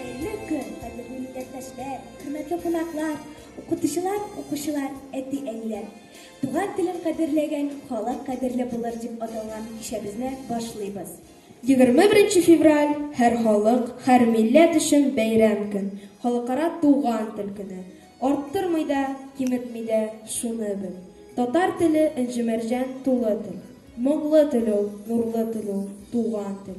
Хәерле көн, кадерле милләттәшләр, хөрмәтле кунаклар, укытучылар, укучылар, әти-әниләр! Туган телен кадерләгән халык кадерле булыр дип аталган кичәбезне башлыйбыз. 21 февраль, һәр халык, һәр милләт өчен бәйрәм көн, Халыкара туган тел көне. Арттырмый да, киметми дә, шуны бел, татар теле, энҗе-мәрҗән тулы тел. Моңлы тел ул, нурлы тел ул, туган тел.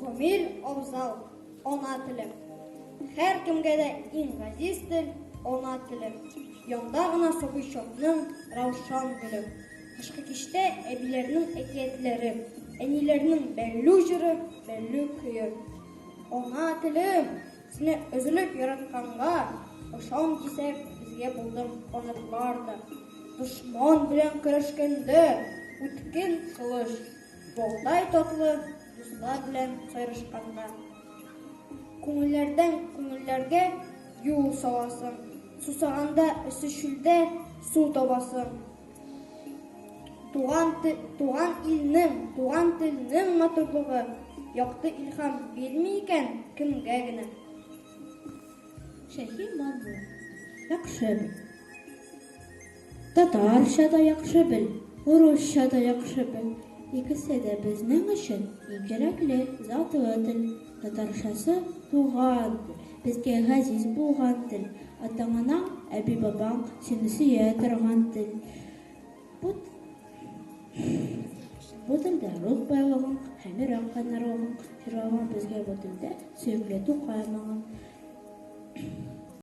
Гомер абзал, ана телем. Һәр кемгә дә иң газиз тел, ана телем. Янда гына сабый чакның раушан гөле. Кышкы кичтә әбиләрнең әкиятләре, әниләрнең бәллү җыры, бәллү көе. Ана телем, Сине өзелеп яратканга, Ышан дисәк, безгә булдың канатлар да. Дошман белән көрәшкәндә, Үткен кылыч, балдай татлы, Дуслар белән сайрашканда. Күңелләрдән күңелләргә юл саласың, Сусаганда эссе чүлдә су табасың. Туган, туган илнең, туган телнең матурлыгы якты илһам бирми икән кемгә генә. Шәһи матур, яхшы бел. Татарча да яхшы бел, урысча да яхшы бел. Икесе дә безнең өчен иң кирәкле затлы тел. Татарчасы туган тел, безгә газиз булган тел, атаң-анаң, әби-бабаң сине сөя торган тел. Бу бу телдә рух байлыгың һәм йөрәк кайнарлыгың җырланган безгә бу телдә сөекле Тукай моңы.